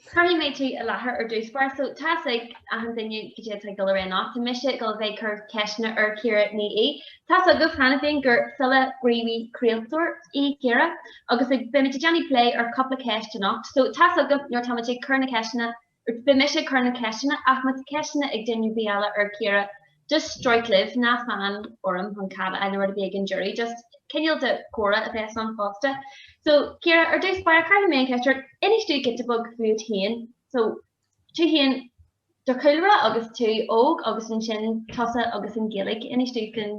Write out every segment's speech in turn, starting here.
Cuirfidh mé tú i láthair ar dtús, báire, so tá a fhios ag achan duine go caidé atá ag dul ar aghaidh anocht, tá mise ag dul a bheith ag cur ceisteanna ar Chiara Ní É. Tá a fhios agaibh cheana féin gur file, gníomhaí, craoltóir í Ciara agus beidh muid ag déanamh plé ar chúpla ceist anocht, so tá a fhios agaibh nuair atá muid ag cur na gceisteanna. Agus beidh mise ag cur na gceisteanna, ach má tá ceisteanna ag duine ar bith eile ar Chiara, just stróic libh, ná fan orm chun cead a fháil nó a bheith ag an deireadh, just cineál de chomhrá a bheas ann fosta. So, Ciara, ar dtús báire cuirfidh mé an cheist ort, inis dúinn giota beag fút féin, so tú féin, do chúlra agus tú óg agus ansin tusa agus an Ghaeilge, inis dúinn faoin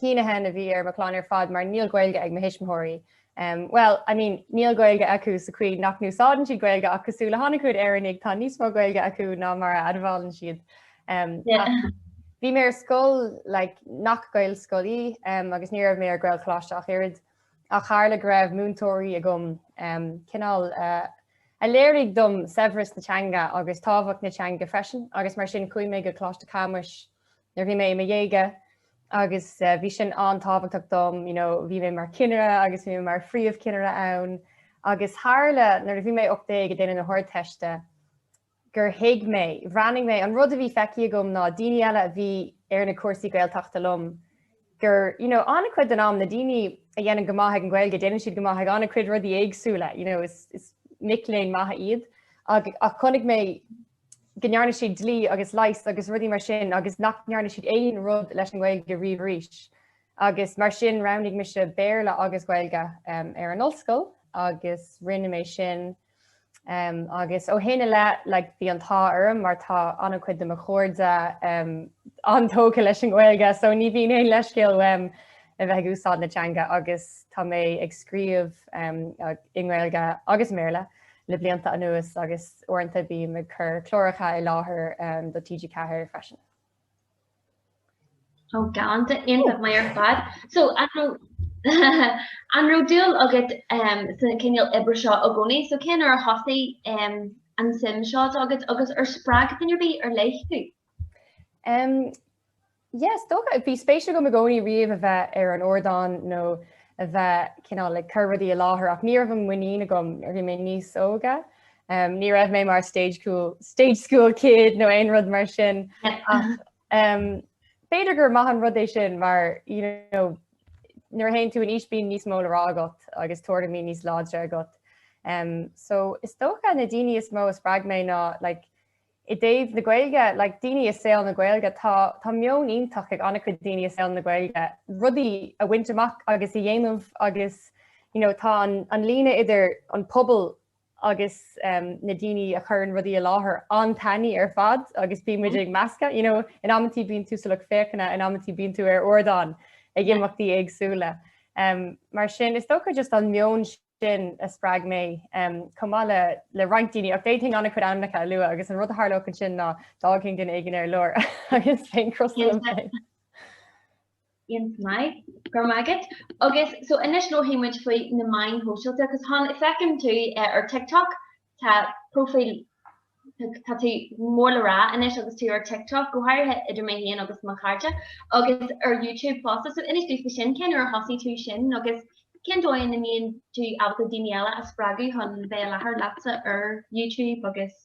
shíneadh ná a bhí ar mo chlann ar fad mar níl Gaeilge ag mo thuismitheoirí. Bhuel, I mean, níl Gaeilge acu sa chaoi nach n-úsáideann siad Gaeilge ach cosúil le han-chuid Éireannaigh tá níos mó Gaeilge acu ná mar a admhálann siad. Bhí mé ar scoil like, nach Gaelscoil í um, agus ní raibh mé ar Ghaelcholáiste ach oiread ach tharla go raibh múinteoirí agam um, cineál uh, a léirigh dom saibhreas na teanga agus tábhacht na teanga freisin agus mar sin chuaigh mé go Coláiste Camais Nuair a bhí mé i mo dhéaga agus bhí sin an-tábhachtach dom, you know, bhí mé mar chinnire agus bhí mé mar phríomhchinnire ann agus tharla nuair a bhí mé 18 ag déanamh na hArdteiste gur thuig mé, bhreathnaigh mé, an rud a bhí feicthe agam ná daoine eile a bhí ar na cúrsaí Gaeltachta liom gur, you know, an-chuid den am na daoine a dhéanann go maith ag an nGaeilge, déanann siad go maith ag an-chuid rudaí éagsúla, you know, is, is mic léinn maithe iad ach chonaic mé go ndearna siad dlí agus leigheas agus rudaí mar sin agus nach ndearna siad aon rud leis an nGaeilge riamh arís. Agus mar sin roghnaigh mise Béarla agus Gaeilge ar an ollscoil agus rinne mé sin agus ó shin i leith like bhí an t-ádh orm mar tá an-chuid de mo chairde an-tógtha leis an nGaeilge so ní bhíonn aon leithscéal uaim a bheith ag úsáid na teanga agus tá mé ag scríobh i nGaeilge agus i mBéarla. le blianta anuas agus uaireanta bím ag cur cláracha i láthair do TG4 freisin. Ó galanta, iontach maith ar fad. So an raibh an raibh dúil agat sa cineál oibre seo i gcónaí? So cé nuair a thosaigh an suim seo agat agus ar spreag duine ar bith ar leith thú? Yeah, is dócha. Bhí spéis agam i gcónaí riamh a bheith ar an ardán nó a bheith cineál ag cur rudaí i láthair, ach ní raibh an muinín agam nuair a bhí mé níos óige. Um, ní raibh mé mar stage school, stage school kid nó aon rud mar sin. um, b'fhéidir gur maith an rud é sin mar you know, nuair a théann tú in aois bíonn níos mó le rá agat agus tuairimí níos láidre agat. Um, so is dócha na daoine is mó a spreag mé ná like, I dtaobh na Gaeilge, like, daoine i saol na Gaeilge, tá, tá meon iontach ag an-chuid daoine i saol na Gaeilge rudaí a bhaint amach agus a dhéanamh agus, you know, tá an, an líne idir an pobal agus em, na daoine a chuireann rudaí i láthair an-tanaí ar fad agus bíonn muid ag meascadh, you know, in amantí bíonn tú sa lucht féachana, in amantí bíonn tú ar ardán ag imeachtaí éagsúla. Em, mar sin, is dócha just an meon sin a spreag mé, chomh maith le roinnt daoine, ach d'fhéadfainn an-chuid ainmneacha a lua agus an rud a tharlódh ansin ná d'fhágfainn duine éigin ar lár agus bheinn crosta liom féin. An-mhaith. Go raibh maith agat. Agus so anois labhraímid faoi na meáin shóisialta agus tá feicim tú ar TikTok Tá próifíl, tá tú mór le rá anois agus tú ar TikTok, go háirithe idir mé féin agus mo chairde, agus ar YouTube fosta, so inis dúinn faoi sin, cén uair a thosaigh tú sin agus cén dóigh ina mbíonn tú ábalta daoine eile a spreagadh chun bheith i láthair leatsa ar YouTube agus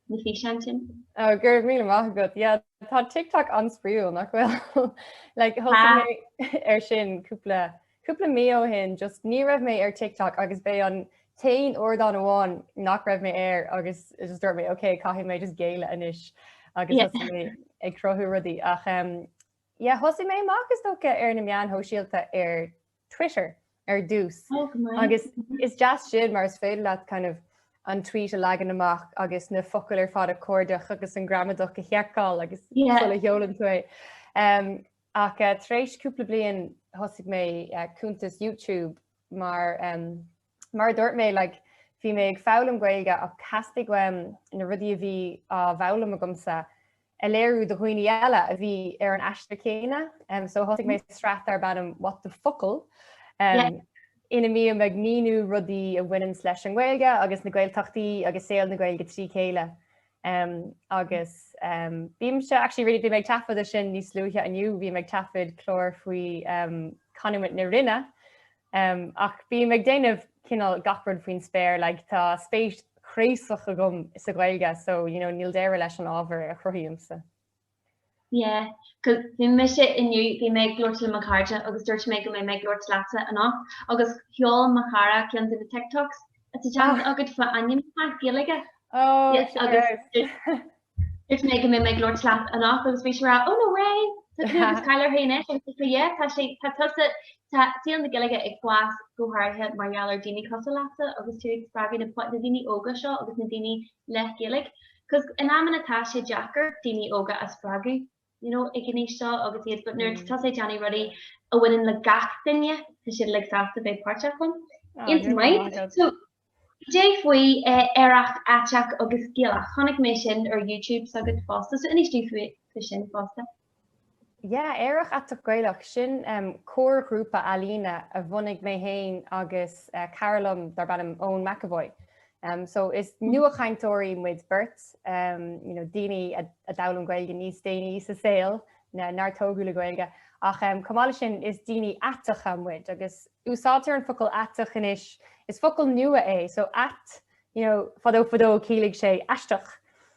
na físeáin sin? Ó, go raibh míle maith agat, tá TikTok an-spraíúil nach bhfuil like ar sin cúpla Cúpla mí ó shin just ní raibh mé ar TikTok agus b'é an t-aon ardán amháin nach raibh mé air agus just dúirt mé ok caithfidh mé just géilleadh anois agus thosaigh mé ag cruthú rudaí ach yeah thosaigh mé amach is dócha ar na meáin shóisialta ar Twitter ar dtús agus is deas sin mar is féidir leat kind of an tweet a leagan amach agus na focail ar fad a chuardach agus an gramadach a sheiceáil agus yeah. sula seolann tú é. Um, Ach tar éis cúpla bliain thosaigh mé cuntas YouTube mar mar a dúirt mé like bhí mé ag foghlaim Gaeilge ach theastaigh uaim na rudaí a bhí á bhfoghlaim agamsa a léiriú do dhaoine eile a bhí ar an aistear céanna so thosaigh mé sraith darb ainm What the Focal ina mbím ag míniú rudaí a bhaineann leis an nGaeilge agus na Gaeltachtaí agus saol na Gaeilge trí chéile. Em agus em bhí mise actually really bhí mé ag taifeadadh sin níos luaithe inniu, bhí mé ag taifeadadh clár faoi em Canúint na Rinne em ach bím ag déanamh cineál gach rud faoin spéir like tá spéis chraosach agam sa Ghaeilge so you know níl deireadh leis an ábhar a chruthaímse. Yeah, cos bhí mise inniu, bhí mé ag labhairt le mo chairde agus dúirt mé go mbeidh mé ag labhairt leatsa anocht agus sheol mo chara ceann de na TikToks atá déanta agat faoi ainmneacha Gaeilge. Oh, Yes, sure. agus dúirt mé go mbeidh mé ag labhairt leat anocht agus bhí sé ag rá, oh no way! Tá tú agus Kyler Hain é, agus dúirt sé, yeah, tá sé, tá tusa, tá saol na Gaeilge ag fás go háirithe mar gheall ar daoine cosúil leatsa agus tú ag spreagadh na po- na daoine óga seo agus na daoine le Gaeilge, cos in amanna tá sé deacair daoine óga a spreagadh you know ag an aois seo agus iad but nuair atá sé déanamh rudaí a bhaineann le gach duine tá siad like sásta bheith páirteach ann. Ah, Iontach maith. so cad é faoi eh, Aerach Aiteach agus Gaelach. Chonaic mé sin ar YouTube s'agat fosta, so inis domh faoi faoi sin fosta. Yeah, Aerach Aiteach Gaelach, sin comharghrúpa ealaíne a bhunaigh mé fhéin agus cara liom darb ainm Eoin McEvoy. Um so is nuachainteoirí muid beirt, um you know daoine a d'fhoghlaim Gaeilge níos déanaí sa saol na nár tógadh le Gaeilge ach um chomh maith leis sin is daoine aiteacha muid agus úsáidtear an focal aiteach anois, is focal nua é so ait you know fadó fadó chiallaigh sé aisteach.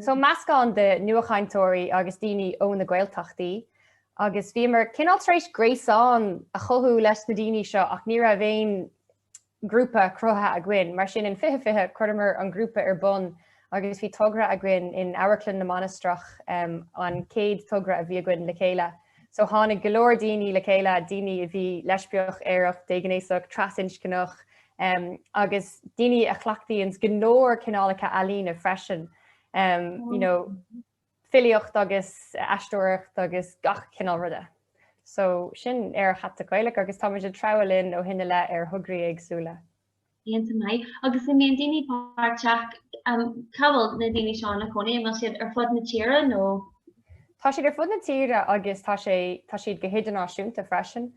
So meascán de nuachainteoirí agus daoine ó na Gaeltachtaí agus bhíomar cineál tar éis gréasán a chothú leis na daoine seo ach ní raibh aon ghrúpa cruthaithe againn. Mar sin in 2020 chuireamar an grúpa ar bun agus bhí togra againn in Amharclann na Mainistreach, an chéad togra a bhí againn le chéile. So tháinig go leor daoine le chéile, daoine a bhí leispiach, aerach, déghnéasach, trasinscneach, agus daoine a chleachtaíonns go leor cineálacha ealaíne freisin, you know, filíocht agus aisteoireacht agus gach cineál ruda. So sin Aerach Aiteach Gaelach agus táimid ag treabhadh linn ó shin i leith ar thograí éagsúla. Iontach maith. Agus an mbíonn daoine páirteach? Cá bhfuil na daoine seo ina gcónaí? An bhfuil siad ar fud na tíre nó? Tá siad ar fud na tíre agus tá sé tá siad go hidirnáisiúnta freisin.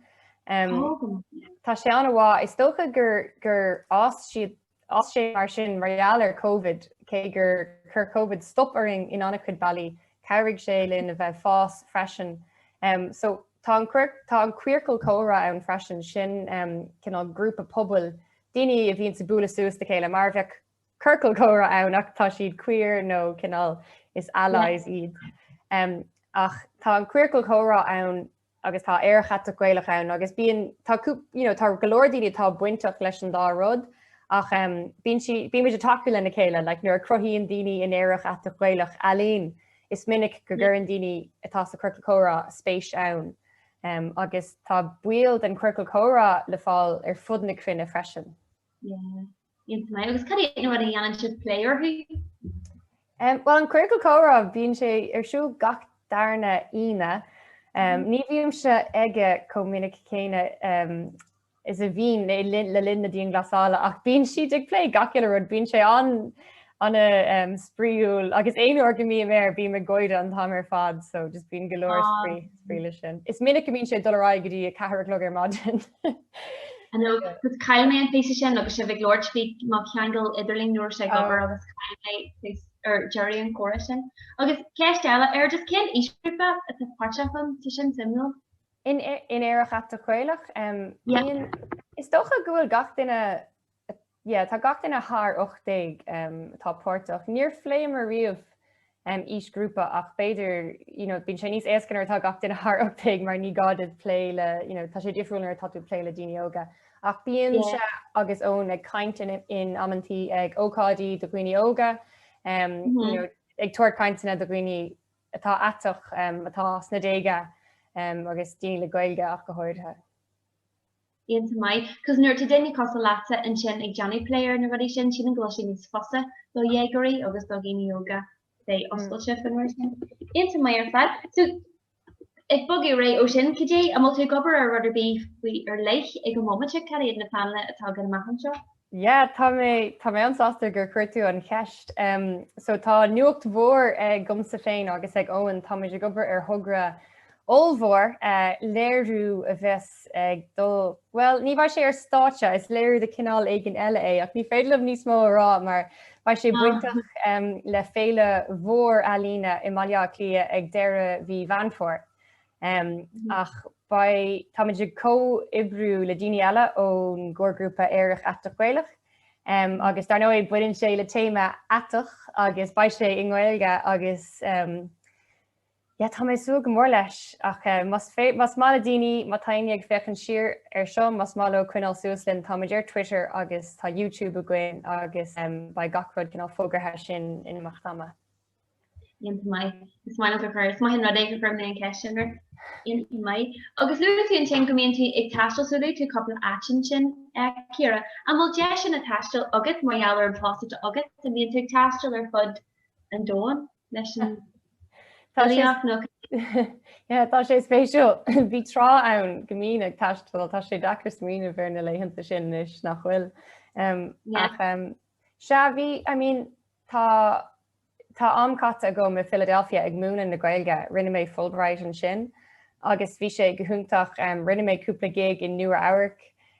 Tá sé an-mhaith. Is dócha gur gur fhás siad fhás sé mar sin mar gheall ar Covid cé gur chuir Covid stop orainn in an-chuid bealaí Chabhraigh sé linn a bheith ag fás freisin. So tá an tá an Queercal Comhrá ann freisin, sin cineál grúpa pobail, daoine a bhíonns ag bualadh suas le chéile, mar a bheadh ciorcal comhrá ann ach tá siad queer nó cineál is allies iad. Ach tá an Queercal Comhrá ann agus tá Aerach Aiteach Gaelach ann agus bíonn, tá cúp, you know, tá go leor daoine atá bainteach leis an dá rud ach em bíonn sí, bímid ag tacú lena chéile, like nuair a chruthaíonn daoine in Aerach Aiteach Gaelach ealaín is minic go gcuireann daoine atá sa Queercal Comhrá spéis ann em agus tá baill den Queercal Comhrá le fáil ar fud na cruinne freisin. Yeah. Iontach maith agus cad é an rud a dhéanann sibh plé orthu? Em, Bhuel an Queercal Comhrá bíonn sé ar siúl gach darna Aoine. Em, Ní bhímse aige chomh minic céanna em, is a bhínn le linn le linn na dianghlasála ach bíonn siad ag plé gach uile rud, bíonn sé an an em, spraíúil agus aon uair go mbím air bím ag gáire an t-am ar fad so just bíonn go leor spraoi spraoi leis sin. Is minic a mbíonn sé ag dul ar aghaidh go dtí a ceathair a chlog ar maidin. I know, cos chaill mé an píosa sin agus sibh ag labhairt faoi mo cheangal idirlín ní raibh sé ag obair agus chaill mé tús ar deireadh an chomhrá sin. Agus ceist eile ar just cén aoisghrúpa atá páirteach ann? Tá sin suimiúil. In Aerach Aiteach Gaelach? Em, Yeah. bíonn, is dócha go bhfuil gach duine Yeah, tá gach duine thar 18 atá páirteach. Níor phléamar riamh aoisghrúpa ach b'fhéidir, you know, bíonn sé níos éasca nuair atá gach duine thar 18 mar ní gá duit plé le, you know, tá sé difriúil nuair atá tú ag plé le daoine óga. Ach bímse agus Eoin ag caint in amantaí ag ócáidí do dhaoine óga, you know, ag tabhairt cainteanna do dhaoine atá aiteach, atá sna déaga agus daoine le Gaeilge ach go háirithe. Iontach maith. Cos nuair atá daoine cosúil leatsa ansin ag déanamh plé ar na rudaí sin sílim go bhfuil sé níos fusa do dhéagóirí agus do dhaoine óga bheith oscailte faoin ábhar sin. Iontach maith ar fad. So, ag bogadh ar aghaidh ó sin, cad é, an bhfuil tú ag obair ar rud ar bith faoi ar leith ag an bhomaite, cad iad na pleananna atá againn amach anseo? Yeah, tá mé, tá mé an-sásta gur chuir tú an cheist. Em, so tá nuacht mhór agamsa féin agus ag Eoin, táimid ag obair ar thogra ollmhór, eh, léiriú a bheas ag dul, bhuel, ní bheidh sé ar stáitse, is léiriú de chineál éigin eile é, ach ní féidir liom níos mó a rá mar beidh sé bainteach, em, le féile mhór ealaíne i mBaile Átha Cliath ag deireadh mhí Mheán Fómhair. Um, ach táimid ag comhoibriú le daoine eile ón gcomharghrúpa Aerach Aiteach Gaelach um, agus dar ndóigh baineann sé le téama Aiteach agus beidh sé i nGaeilge agus um, yeah, tá mé ag súil go mór leis ach uh, más, fé, más maith le daoine má tá éinne ag féachaint siar air seo más maith leo coinneáil suas linn táimid ar Twitter agus tá YouTube againn agus um, beidh gach rud cineál fógartha ansin in imeacht ama Iontach maith. Is maith liom do chur. Is maith an rud é gur chuir mé an cheist sin ort. Iontach maith. Agus luaigh tú ansin go mbíonn tú ag taisteal so luaigh tú cúpla áit ansin, a Chiara. An bhfuil deiseanna taistil agat mar gheall ar an post atá agat? An mbíonn tú ag taisteal ar fud an domhain leis an bhfilíocht nó cad? Yeah tá sé spéisiúil. Bhí tráth ann go mbínn ag taisteal. Tá sé deacair smaoineamh ar na laethanta sin anois, nach bhfuil? Ach Sea, bhí, I mean, tá, tá am caite agam i Philadelphia ag múineadh na Gaeilge, rinne mé Fulbright ansin agus bhí sé go hiontach, rinne mé cúpla gig i Nua-Eabhrac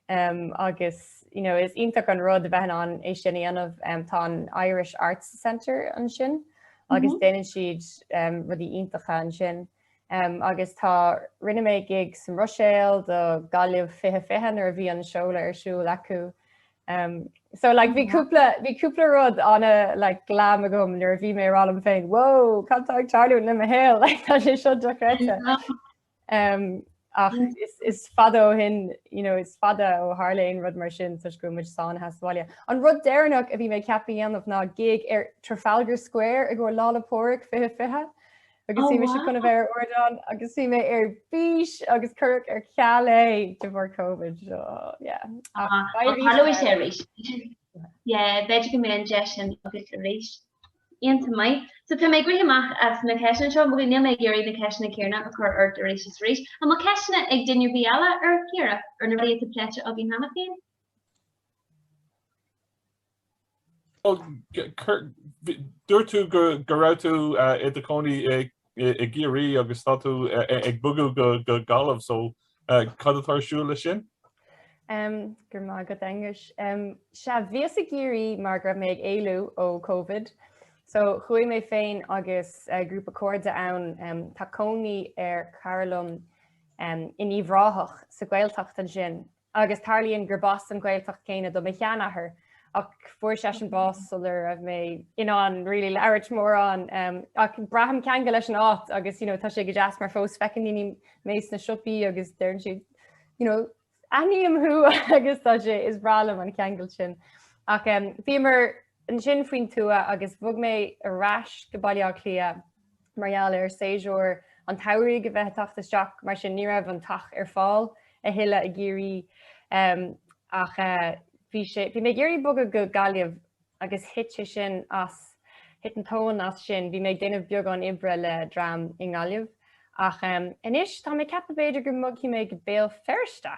agus, you know, is iontach an rud a bheith in ann é sin a dhéanamh, tá an Irish Arts Centre ansin agus déanann siad rudaí iontacha ansin. Agus tá, rinne mé gig sa Bhruiséil do Gaillimh 2020 nuair a bhí an seoladh ar siúl acu. So like bhí cúpla rud ana like glam agam nuair a bhí mé ag rá liom féin wow cad tá ag tarlú le mo shaol like tá sé seo dochreidte. Ach is fada ó shin, you know, is fada ó tharla aon rud mar sin toisc go bhfuil muid sáinnithe sa bhaile. An rud deireanach a bhí mé ceaptha a dhéanamh ná gig ar Trafalgar Square i gcomhair Lá 'le Pádhraic 2020. Agus bhí mise chun a bheith ar ardán agus bhí mé ar bís agus cuireadh ar ceal é de bharr Covid. So, yeah. Ach tarlóidh sé arís. Yeah, b'fhéidir go mbeidh an deis sin agat arís. Iontach maith. So tá mé ag rith amach as na ceisteanna seo, níl mé ag iarraidh na ceisteanna céanna a chur ort arís is arís. An bhfuil ceisteanna ag duine ar bith eile ar Ciara ar na rudaí atá pléite againn cheana féin? Dúirt tú go raibh tú i do chónaí i gCiarraí agus tá tú ag bogadh go Gaillimh so cad atá ar siúl leis sin? Go raibh maith agat Aengus. Sea, bhíos i gCiarraí mar go raibh mé ag éalú ó Covid so chuaigh mé féin agus grúpa cairde ann. Tá cónaí ar chara liom in Uíbh Ráthach sa Ghaeltacht ansin Agus tarlaíonn gur b'as an Ghaeltacht chéanna do mo sheanathair, ach fuair seisean bás sular raibh mé in ann really labhairt mórán. Ach braithim ceangal leis an áit agus you know tá sé go deas mar fós feiceann daoine mé sna siopaí agus deireann siad you know aithním thú agus tá sé is breá liom an ceangal sin. Ach bhíomar ansin faoin tuath agus bhog mé ar ais go Baile Átha Cliath mar gheall ar séasúr an tsamhraidh a bheith ag teacht isteach, mar sin ní raibh an teach ar fáil a thuilleadh i gCiarraí. Ach bhí mé ag iarraidh bogadh go Gaillimh agus thit sé sin as, thit an tóin as sin, bhí mé ag déanamh beagán oibre le dream i nGaillimh. Ach anois tá mé ag ceapadh b'fhéidir go mbogfaidh mé go Béal Feirste!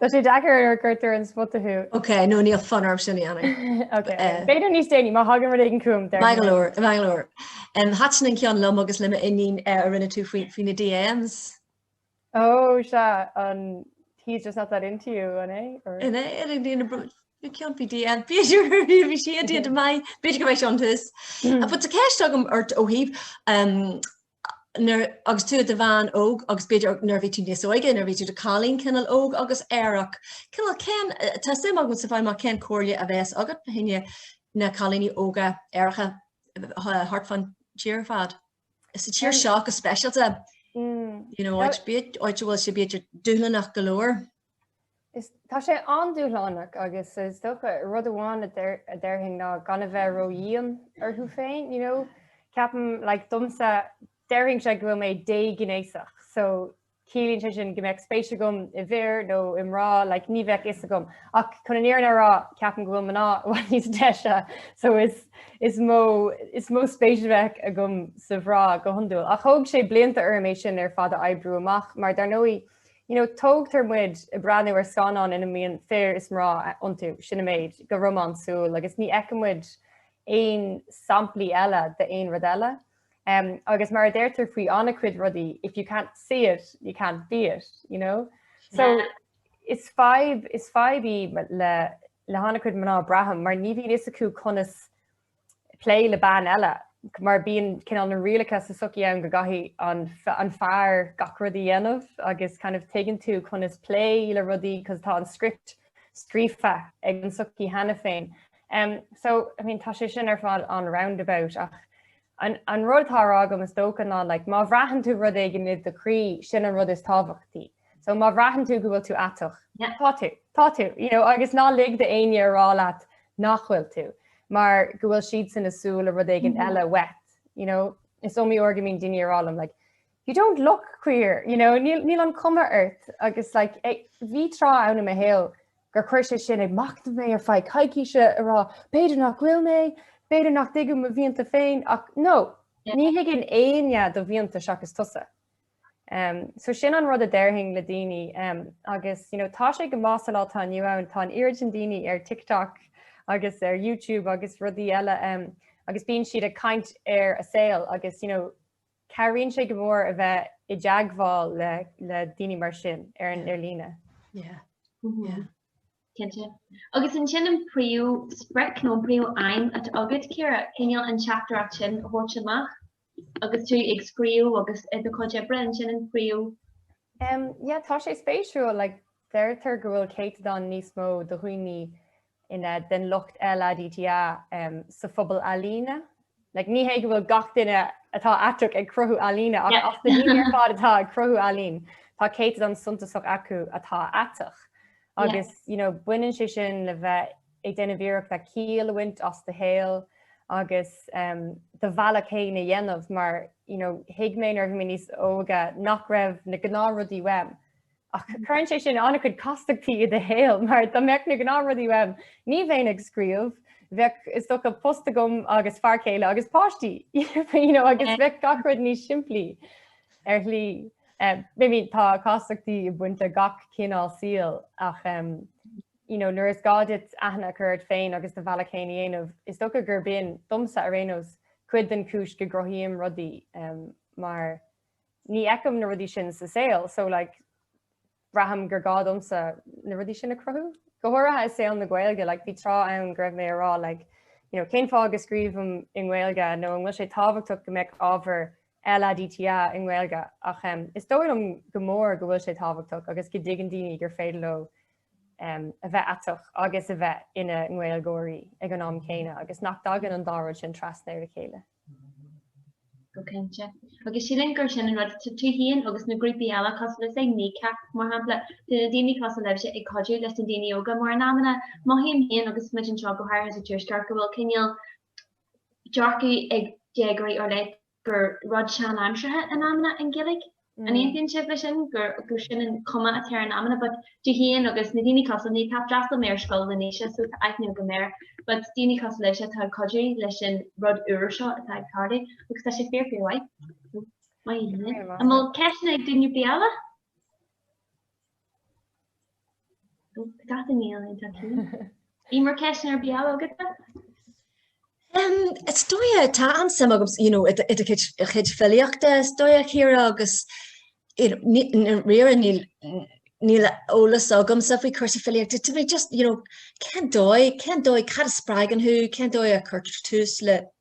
Tá sé deacair nuair a chuirtear ar an spota thú. Ok, no níl fonn orm seinm. Ok, b'fhéidir níos déanaí má thagann rud éigin chugam. Bangalore, Bangalore. Um, Thaitin an ceann liom agus le m'iníon eh, a rinne tú faoi na DMs. Ó, sea an he's just not that into you, an é? An é, ar an dtíana brú. You can't be DM Peter bhí sé an-mhaith b'fhéidir go bheith seantas. But tá ceist agam ort ó thaobh nuair agus tú i do bhean óg agus b'fhéidir nuair a bhí tú níos óige, nuair a bhí tú i do chailín cineál óg agus aerach, cineál cén, tá suim agam sa bhfáil amach cén comhairle a bheadh agat do chuid de na cailíní óga aeracha thart fán tír ar fad? Sa tír seo go speisialta, you know, áit, áit a bhfuil sé b'fhéidir dúshlánach go leor. Is tá sé an-dúshlánach agus is dócha rud amháin a déarfainn ná gan a bheith ró-dhian ort féin, you know, ceapaim like domsa déarfainn sé go bhfuil mé dé-ghnéasach so ciallaíonn sé sin go mbeadh spéis agam i bhfir nó i mná like ní bheadh fhios agam ach chun an fhírinne a rá ceapaim go bhfuil mná beagáinín níos deise so is is mó is mó spéis a bheadh agam sna mná go hiondúil. Ach thóg sé blianta orm é sin ar fad a oibriú amach mar dar ndóigh You know, tógtar muid ag breathnú ar scannáin ina mbíonn fir is mná iontu, sin an méid, go románsúil agus ní fheiceann muid aon samplaí eile d'aon rud eile. Um, agus mar a deirtear faoi an-chuid rudaí, if you can't see it, you can't be it, you know? So, yeah. is fadhb, is fadhb í le, le hana-chuid mná, braithim, mar ní bhíonn a fhios acu conas plé le bean eile mar bíonn cineál na rialacha sa sochaí ann go gcaithfidh an an fear gach rud a dhéanamh agus kind of tuigeann tú conas plé le rudaí cos tá an script scríofa ag an sochaí cheana féin. Um, so I mean, tá sé sin ar fad an-roundabout ach an, an rud atá á rá agam is dócha ná like, má bhraitheann tú rud éigin id do chroí sin an rud is tábhachtaí. So má bhraitheann tú go bhfuil tú aiteach, tá tú, tá tú, you know, agus ná lig d'aoinne a rá leat nach bhfuil tú mar go bhfuil siadsan ag súil le rud éigin eile uait, you know. Is iomaí uair go mbíonn daoine ag rá liom like, you don't look queer, you know, níl, níl an chuma ort agus like, ag, bhí tráth ann i mo shaol gur chuir sé sin ag machnamh mé ar feadh coicíse a rá b'fhéidir nach bhfuil mé, b'fhéidir nach dtuigim mo mhianta féin ach no, ní thuigeann éinne do mhianta seachas tusa. Um, so sin an rud a déarfainn le daoine um, agus you know, tá sé go maith sa lá atá inniu ann tá an oiread sin daoine ar TikTok agus ar YouTube agus rudaí eile um, agus bíonn siad ag caint ar a saol agus you know, cabhraíonn sé go mór a bheith i dteagmháil le, le daoine mar sin ar an ar líne. Yeah. Mm-hmm. Yeah. Cinnte. Agus an é sin an phríomhsprioc nó an phríomhaidhm atá agat, Ciara, cineál an teachtaireacht sin a thabhairt amach agus tú ag scríobh agus i do chuid oibre, an é sin an príomh. Em, yeah, tá sé spéisiúil, like, deirtear go bhfuil céatadán níos mó de dhaoine ina, den lucht LADTA, em, sa phobal ealaíne Like, ní hé go bhfuil gach duine atá aiteach ag cruthú ealaíne ach as na daoine ar fad atá ag cruthú ealaíne tá céatadán suntasach acu atá aiteach agus, you know, baineann sé sin le bheith ag déanamh iarracht ciall a bhaint as do shaol agus em, do bhealach fhéin a dhéanamh mar, you know, thuig mé nuair a bhí mé níos óige nach raibh na gnáthrudaí uaim. Ach cuireann sé sin ana-chuid castachtaí i do shaol mar dá mbeadh na gnáthrudaí uaim, ní bheinn ag scríobh, bheadh is dócha post agam agus fear céile agus páistí, you know, agus bheadh gach rud níos simplí ar shlí. I mean, tá castachtaí ag baint le gach cineál saoil ach, ehm, you know, nuair is gá duit aithne a chur ort féin agus do bhealach féin a dhéanamh, is dócha gur b'in, domsa ar aon nós, cuid den chúis go gcruthaím rudaí, ehm, mar Ní fheicim na rudaí sin sa saol so like braithim gur gá domsa na rudaí sin a chruthú. Go háirithe i saol na Gaeilge like bhí tráth ann go raibh mé á rá like you know cén fáth go scríobhaim i nGaeilge nó an bhfuil sé tábhachtach go mbeadh ábhar LADTA i nGaeilge ach em is dóigh liom go mór go bhfuil sé tábhachtach agus go dtuigeann daoine gur féidir leo em a bheith aiteach agus a bheith ina nGaeilgeoirí ag an am céanna agus nach dtagann an dá rud sin trasna ar a chéile. Go cinnte. Agus sílim gur sin an rud, tú fhéin agus na grúpaí eile, cosúil le Kneecap mar shampla, tá na daoine cosúil libhse ag cuidiú leis na daoine óga mar in amanna mothaím fhéin agus muid anseo go háirithe sa Tuaisceart go bhfuil cineál dearcadh ag déagóirí ar leith gur rud sean-aimseartha in amanna an Ghaeilge. An aontaíonn sibh leis sin gur gur sin an chuma atá ar an amanna but tú fhéin agus na daoine cosúil Kneecap d'fhreastail mé ar scoil le Naoise so tá aithne go maith air but daoine cosúil leisean atá ag cuidiú leis an rud úr seo atá ag tarlú agus tá sé fíor fíor mhaith. Maith. An bhfuil ceisteanna ag duine ar bith eile? An bhfuil ceisteanna ar bith eile agat? Is dóigh tá an-suim agam i do chuid filíochta is dóigh Ciara agus dáiríre níl eolas agamsa faoi chúrsaí filíochta. Tá mé just, you know, cén dóigh, cén dóigh, cad a spreagann thú, cén dóigh a chuirtear tús le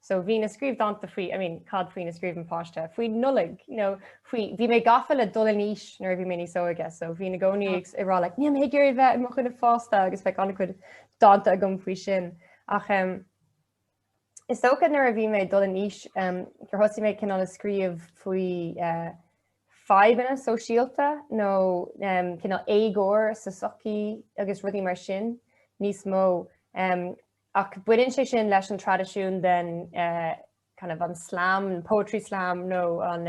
So bhínn ag scríobh dánta faoi, I mean, cad faoina scríobhann páiste? Faoi Nollaig, you know, faoi, bhí mé gafa le dul in aois nuair a bhí mé níos óige, so bhínn i gcónaí ag ag rá like, níl mé ag iarraidh bheith i mo dhuine fásta agus bheadh an-chuid dánta agam faoi sin. Ach em is dócha nuair a bhí mé ag dul in aois em gur thosaigh mé cineál ag scríobh faoi eh fadhbanna sóisialta nó em cineál éagóir sa tsochaí agus rudaí mar sin níos mó. Em Ach baineann sé sin leis an traidisiún den kind of an slam, an poetry slam nó an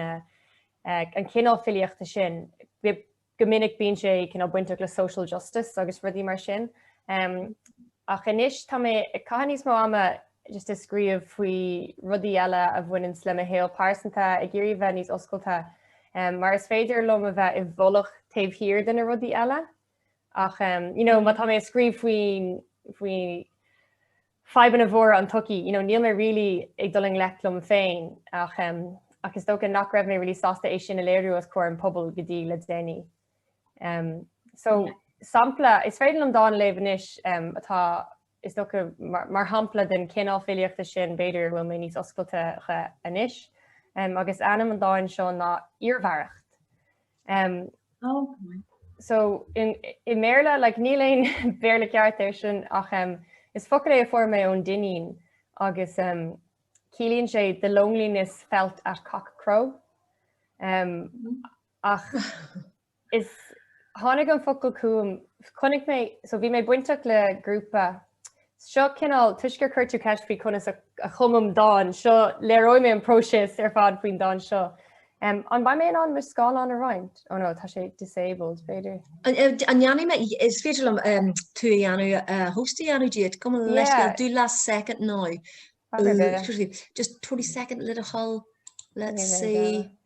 an cineál filíochta sin. Go minic bíonn sé cineál bainteach le social justice agus rudaí mar sin. Ach anois tá mé ag caitheamh níos mó ama just ag scríobh faoi rudaí eile a bhaineann le mo shaol pearsanta, ag iarraidh a bheith níos oscailte mar is féidir liom a bheith i bhfolach taobh thiar de na rudaí eile. Ach um, you know, má tá mé ag scríobh faoi faoi fadhbanna móra an tsochaí, you know, níl mé really ag dul i ngleic liom féin ach um, ach is dócha nach raibh mé really sásta é sin a léiriú os comhair an phobail go dtí le déanaí. Um, so sampla, is féidir liom dán a léamh anois um, atá Is dócha, mar shampla den chineál filíochta sin, b'fhéidir, a bhfuil mé níos oscailte dó anois. Agus ainm an dáin seo ná Iarmhaireacht. So, i mBéarla, like, níl aon Bhéarla ceart ar sin ach is focal é a fuair mé ón Duinníneach agus ciallaíonn sé the loneliness felt at cock crow. Ach is tháinig an focal chugam, chonaic mé, so bhí mé bainteach le grúpa, seo cineál, toisc gur chuir tú ceist faoi conas a chumaim dán, seo, léireoidh mé an próiseas ar fad faoin dán seo. Um an mbeidh mé in ann mo scáileán a roinnt? Ó nó tá sé disabled, an féidir, an ndéanfaidh mé, is féidir liom um tú a dhéanamh, host a dhéanamh díot, cuma leis, yeah. dhá soicind anois. Just 20 second little hold, let's see.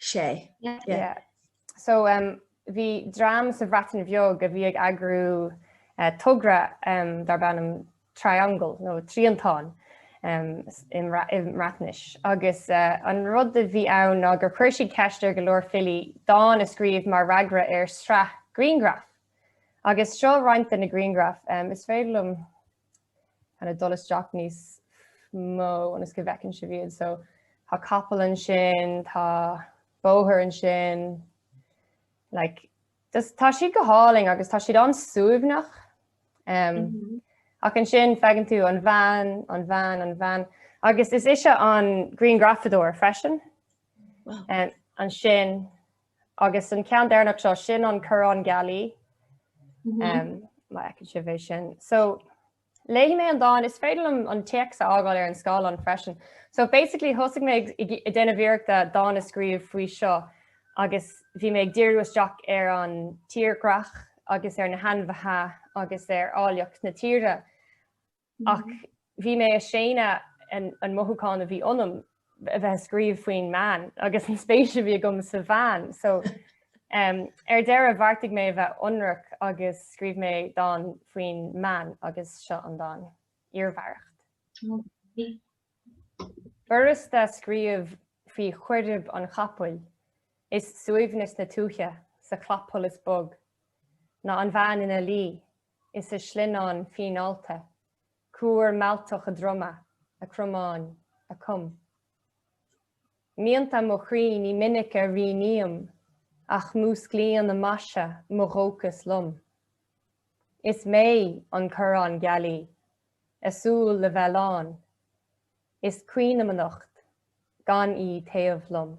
sé. So bhí dream sa Bhreatain Bheag a bhí ag eagrú togra dar b'ainm Triangle nó Triongl i mBreatnais agus an rud a bhí ann ná gur chuir siad ceist ar go leor filí dán a scríobh mar fhreagra ar shraith grianghraif. Agus seo roinnt de na grianghraif, is féidir liom kind of dul isteach níos mó ionas go bhfeiceann sibh iad. So tá capall ansin, tá bóthar ansin, like, just, tá siad go hálainn agus tá siad an-suaimhneach. Um, mm -hmm. Ach ansin feiceann tú an bhean, an bhean, an bhean. Agus is ise an grianghrafadóir freisin. Wow. Um, ansin Agus an ceann deireanach seo, sin an corrán gealaí. Má fheiceann sibh é sin. So léifidh mé an dán, is féidir liom an téacs a fhágáil ar an scáileán freisin. So basically thosaigh mé ag déanamh iarrachta dán a scríobh faoi seo agus bhí mé ag díriú isteach ar an tírdhreach agus ar na hainmhithe agus ar áilleacht na tíre. Ach bhí mé a' séanadh an mothúchán a bhí ionam a bheith a' scríobh faoin mbean agus an spéis a bhí agam sa bhean so ar deireadh bheartaigh mé a bheith ionraic agus scríobh mé dán faoin mbean agus seo an dán, Iarmhaireacht. B'fhurasta scríobh faoi chaoirib an chapaill is suaimhneas na tuaithe sa chlapsholas bog ná an bhean ina luí is a shlinneán fíneálta, cuar mealltach a droma, a cromáin, a com. Mianta mo chroí ní minic a rianaím ach músclaíonn a maise mo dhóchas liom. Is mé an corrán gealaí, a súil le bheith lán. Is caoinfhimneacht gan í taobh liom.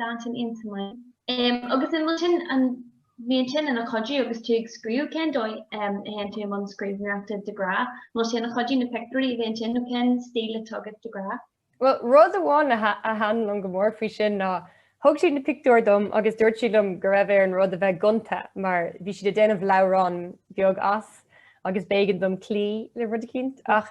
d'intinn intinne. Agus an bhfuil sin, an mbíonn sin ina chuidiú agus tú ag scríobh, cén dóigh a théann tú i mbun scríbhneoireachta de ghnáth? An bhfuil sé ina chuidiú na pictiúirí a bhíonn ansin nó cén stíl atá agat de ghnáth? Bhuel, rud amháin a thaithin liom go mór faoi sin ná thug siad na pictiúir dom agus dúirt siad liom go raibh ar an rud a bheith gonta mar bhí siad ag déanamh leabhrán beag as agus b'éigean dom cloí le rud eicínt ach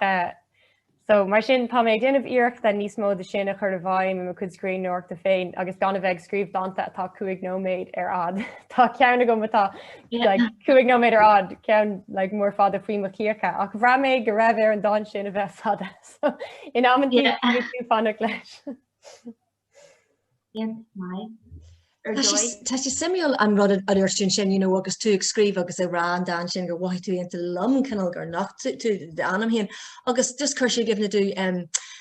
So, mar sin, tá mé ag déanamh iarrachta níos mó de sin a chur i bhfeidhm i mo chuid scríbhneoireachta féin agus gan a bheith ag scríobh dánta atá cúig nóiméad ar fhad. Tá ceann agam atá like cúig nóiméad ar fhad, ceann like mór fada faoi mo chíocha, ach bhraith mé go raibh ar an dán sin a bheith fada. So, in amantaí, níl tú ag fanacht leis. Tá sé suimiúil an rud a dúirt tú ansin, you know, agus tú ag scríobh agus ag rá an dán sin gur mhothaigh tú aontaím liom cineál gur nocht tú d'anam féin agus just chuir sé i gcuimhne domh um,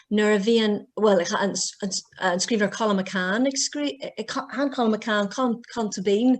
nuair a bhíonn bhuel an scríbhneoir Colm McCann ag scríobh Colm McCann, Colm Tóibín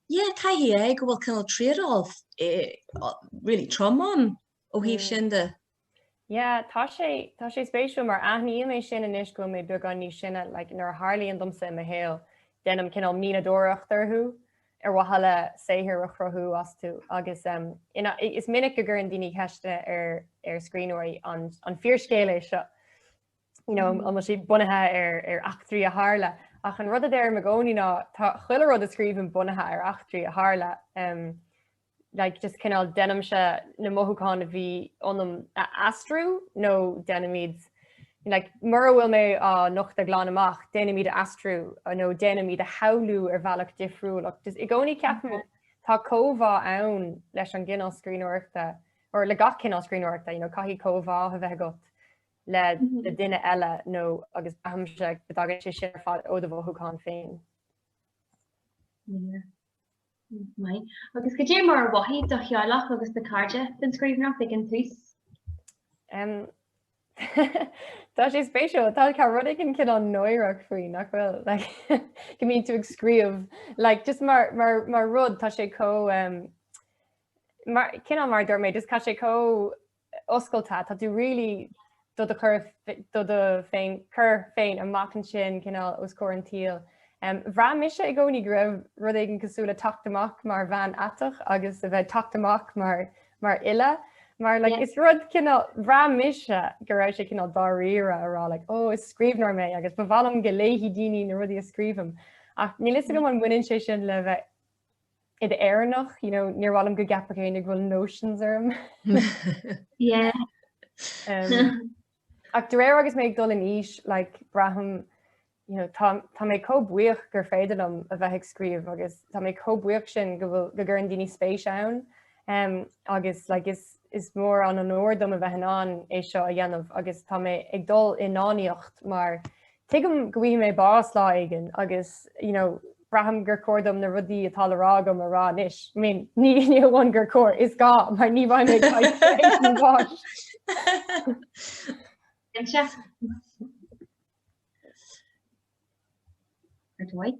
Yeah, caithfidh sé go bhfuil cineál trade-off really trom ann ó thaobh sin de. Yeah, tá sé, tá sé spéisiúil mar aithníonn mé sin anois go bhfuil mé beagán níos sine, like nuair a tharlaíonn domsa i mo shaol déanaim cineál mianadóireacht orthu ar mhaithe le saothar a chruthú astu agus is minic go gcuireann daoine ceisteanna ar scríbhneoirí an fíorscéal é seo? you know, an bhfuil siad bunaithe ar ar eachtraí a tharla. Ach an rud a deirim i gcónaí ná tá chuile rud a scríobhaim bunaithe ar eachtraí a tharla. Um, like, just cineál déanaimse na mothúcháin a bhí ionam a aistriú nó déanaim iad like, mura bhfuil mé á nochtadh glan amach déanaim iad a aistriú nó déanaim iad a shamhlú ar bhealach difriúil. Just i gcónaí ceapaim tá comhbhá ann leis an gcineál scríbhneoireachta or le gach cineál scríbhneoireachta, you know, caithfidh comhbhá a bheith agat. le le duine eile nó agus airímse go dtagann sé sin ar fad ó do mhothúchán féin. Mai. Agus goidé mar a mhothaigh do theaghlach agus do chairde faoin scríbhneoireacht ag an tús? Um, Tá sé spéisiúil tá saghas rud éigin cineál náireach faoi nach bhfuil go mbíonn tú ag scríobh like just mar mar rud tá sé chomh um, mar cineál mar a dúirt mé just tá sé chomh oscailte, tá tú really do do chur do do féin chur féin amach ansin cineál os comhair an tsaoil. Bhraith mise i gcónaí go raibh rud éigin cosúil le teacht amach mar bhean aiteach agus a bheith ag teacht amach mar mar fhile mar like is rud cineál bhraith mise go raibh sé cineál dáiríre a rá like ó is scríbhneoir mé agus ba mhaith liom go léifidh daoine na rudaí a scríobhaim ach níl fhios agam an mbaineann sé sin le bheith i d'Éireannach, you know, níor mhaith liom go gceapfadh éinne go bhfuil notions orm. Yeah. um, ach de réir agus mé ag dul in aois, like, braithim you know, tá, tá mé chomh buíoch gur féidir liom a bheith ag scríobh agus tá mé chomh buíoch sin go bhfuil go gcuireann daoine spéis ann um, agus like, is Is mór an onóir dom a bheith in ann é seo a dhéanamh agus tá mé ag dul i ndánaíocht mar tuigim go bhfaighidh mé bás lá éigin agus, you know, braithim gur chóir dom na rudaí atá le rá agam a rá anois. I mean, ní amháin gur chóir, is gá mar ní bheidh mé ag tar éis mo bháis. Cinnte. Ar do aghaidh.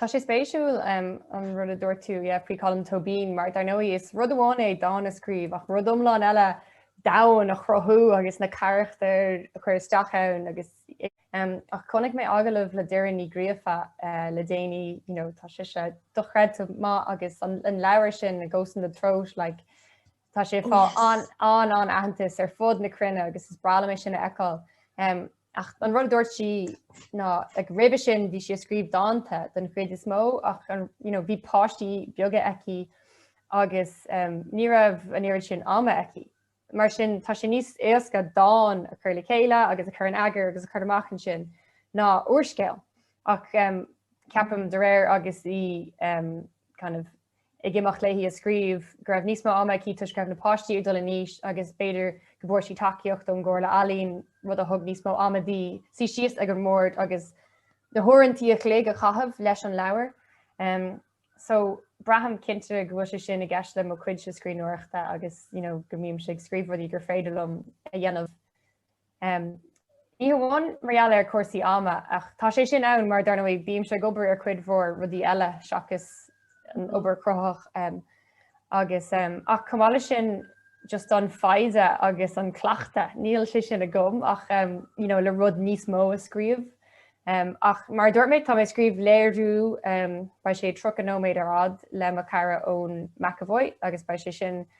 Tá sé spéisiúil an rud a dúirt tú faoi Colm Tóibín mar dar ndóigh is rud amháin é dán a scríobh ach rud iomlán eile domhan a chruthú agus na carachtair a chur isteach ann agus ach chonaic mé agallamh le Doireann Ní Ghríofa le déanaí, you know, tá sise dochreidte maith agus an leabhar sin, A Ghost in the Throat, like, Tá sé ag fáil an-an-aitheantas ar fud na cruinne agus is breá liom é sin a fheiceáil. Ach an rud a dúirt sí ná ag roimhe sin bhí sí ag scríobh dánta den chuid is mó ach bhí páistí beaga aici agus ní raibh an oiread sin ama aici. Mar sin tá sé níos éasca dán a chur le chéile agus a chur in eagar agus a chur amach ansin ná úrscéal. Ach ceapaim de réir agus í kind of ag imeacht léi ag scríobh go raibh níos mó ama aici toisc go raibh na páistí ag dul in aois agus b'fhéidir go bhfuair sí tacaíocht ón gComhairle Ealaíon, rud a thug níos mó ama di suí síos ag an mbord agus na huaireanta an chloig a chaitheamh leis an leabhar. So braithim cinnte go bhfuil sé sin i gceist le mo chuidse scríbhneoireachta agus you know go mbímse ag scríobh rudaí gur féidir liom a dhéanamh Ní hamháin mar gheall ar chúrsaí ama ach tá sé sin ann mar dar ndóigh bímse ag obair ar chuid mhór rudaí eile seachas an obair chruthaitheach agus ach chomh maith leis sin just an fhoighne agus an cleachtadh, níl sé sin agam ach you know le rud níos mó a scríobh ach mar a dúirt mé tá mé ag scríobh léiriú beidh sé tríocha nóiméad ar fad le mo chara Eoin McEvoy agus beidh sé sin ag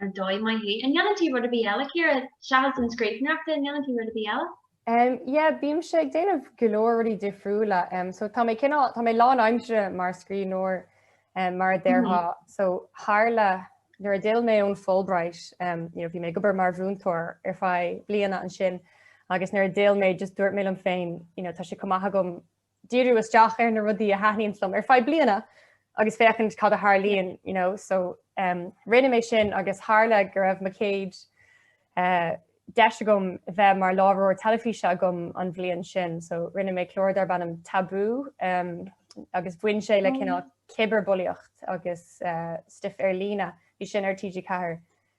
Ar dóigh maith léi. An ndéanann tú rud ar bith eile, a Chiara? Seachas an scríbhneoireachta, an ndéanann tú rud ar bith eile? Yeah, bímse ag déanamh go leor rudaí difriúla. So tá mé cineál, tá mé lánaimseartha mar scríbhneoir, mar a déarfá. So tharla nuair a d'fhill mé ón Fulbright, you know, bhí mé ag obair mar mhúinteoir ar feadh bliana ansin, agus nuair a d'fhill mé just dúirt mé liom féin, you know, tá sé chomh maith agam díriú isteach ar na rudaí a thaitníonns liom ar feadh bliana agus féachaint cad a tharlaíonn you know so um, rinne mé sin agus tharla go raibh mo céad uh, deis agam bheith mar láithreoir teilifíse agam an bhliain sin so rinne mé clár darb ainm Tabú um, agus bhain sé le oh. cineál cibearbhulaíocht agus uh, stuif ar líne bhí sin ar TG4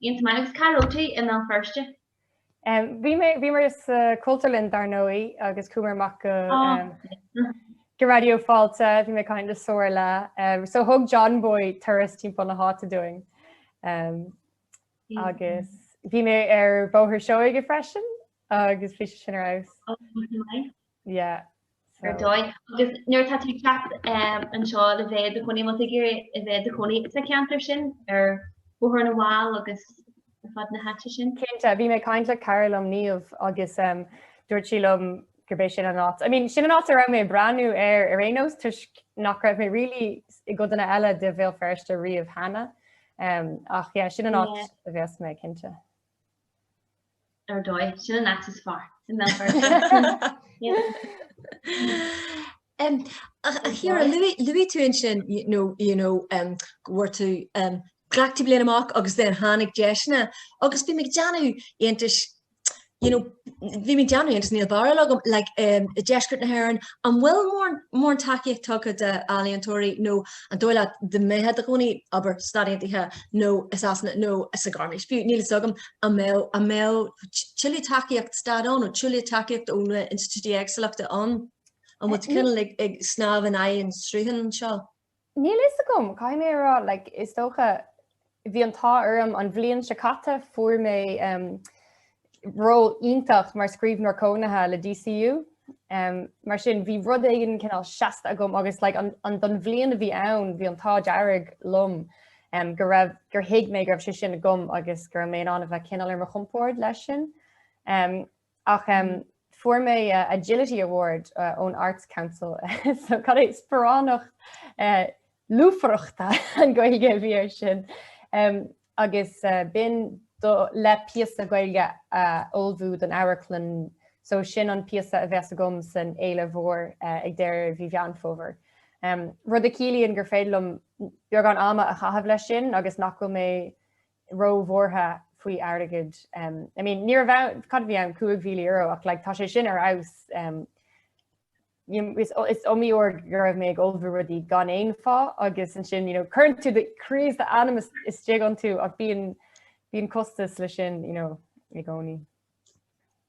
Iontach agus cá raibh tú i mBéal Feirste? Bhí mé sa Chultúrlann dar ndóigh agus chuamar amach go go Raidió Fáilte, bhí mé ag caint le Somhairle so thug John Boy turas timpeall na háite dúinn agus bhí mé ar Bhóthar Seoige freisin agus bhí sé sin ar fheabhas. Yeah so. Ar dóigh. Agus nuair atá tú ag teacht anseo le bheith i do chónaí, má tá tú ag iarraidh a bheith i do chónaí sa cheantar sin ar Bhóthar na bhFál agus ar fad na háite sin? Cinnte, bhí mé ag caint le cara liom, Niamh, agus dúirt sí liom gurb é sin an áit, I mean, sin an áit a raibh mé ag breathnú air ar aon nós toisc nach raibh mé really i gcodanna eile de Bhéal Feirste riamh cheana. Ach yeah, sin an áit a bheas mé, cinnte. Ar dóigh, sin an áit is fearr i mBéal Feirste. Chiara, luaigh tú ansin you know nuair a tú glacadh bliain amach agus then tháinig deiseanna agus bhí mé ag déanamh iontais you know bhí mé ag déanamh iontais níl barúil agam like deisceart na hÉireann an bhfuil mórán tacaíochta tugtha do ealaíontóirí nó An dóigh leat dá mbeifeá i do chónaí abair Stáit Aontaithe nó i Sasana nó sa Ghairmis? Fiú níl fhios agam an mbeadh an mbeadh tuilleadh tacaíocht stáit ann nó tuilleadh tacaíocht ó na institiúidí éagsúla ann? An bhfuil tú cineál ag ag snámh in aghaidh an srutha anseo? Níl fhios agam, caithfidh mé a rá, like, is dócha, Bhí an t-ádh orm an bhliain seo caite fuair mé ról iontach mar scríbhneoir cónaithe le DCU. Mar sin bhí rud éigin cineál seasta agam agus like don bhliain a bhí ann bhí an t-ádh dearg liom go raibh, gur thuig mé go raibh sé sin agam agus go raibh mé in ann a bheith cineál ar mo chompord leis sin. Ach fuair mé Agility Award ón Arts Council so cad é sparánacht lúfaireachta an Ghaeilge a bhí air sin agus b'in le píosa Gaeilge a ullmhú don amharclann so sin an píosa a bheas agam san Fhéile Mhór ag deireadh mhí Mheán Fómhair. Rud a chiallaíonn gur féidir liom beagán ama a chaitheamh leis sin agus nach bhfuil mé róbhuartha faoi airgead. I mean, ní raibh ann, cad a bhí ann, €5,000 ach like tá sé sin ar fheabhas. Is iomaí uair go raibh mé ag ullmhú rudaí gan aon phá agus ansin, you know, cuireann tú do chroí is do anam istigh iontu ach bíonn costas leis sin, you know, i gcónaí.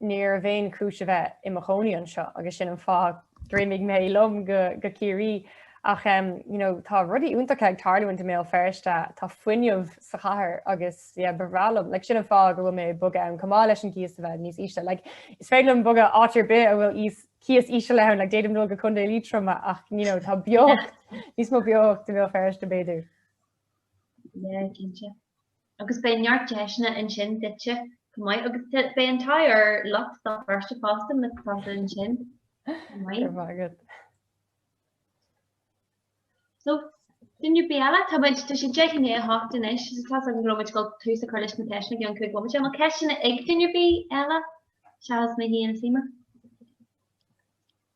Ní raibh aon chúis a bheith i mo chónaí anseo agus sin an fáth gur imigh mé liom go Ciarraí ach you know tá rudaí iontacha ag tarlú i mBéal Feirste, tá fuinneamh sa chathair agus yeah ba bhreá liom, like sin an fáth go bhfuil mé ag bogadh ann chomh maith leis an gcíos a bheith níos ísle. Like is féidir liom bogadh áit ar bith a bhfuil íos, cíos íseal ann, like d'fhéadfainn dul go Contae Liatroma ach you know tá beocht, níos mó beocht i mBéal Feirste b'fhéidir. Yeah, cinnte. Agus beidh neart deiseanna ansin duitse chomh maith agus beidh an t-ádh ar lucht Bhéal Feirste fosta na cosúil ansin chomh maith. Ar mhagadh. So, duine ar bith eile, tá muid, tá sé deich i ndiaidh a hocht anois, so tá muid ag gabháil tús a chur leis na ceisteanna i gceann cúig bhomaite má tá ceisteanna ag duine ar bith eile, seachas mé féin saoime.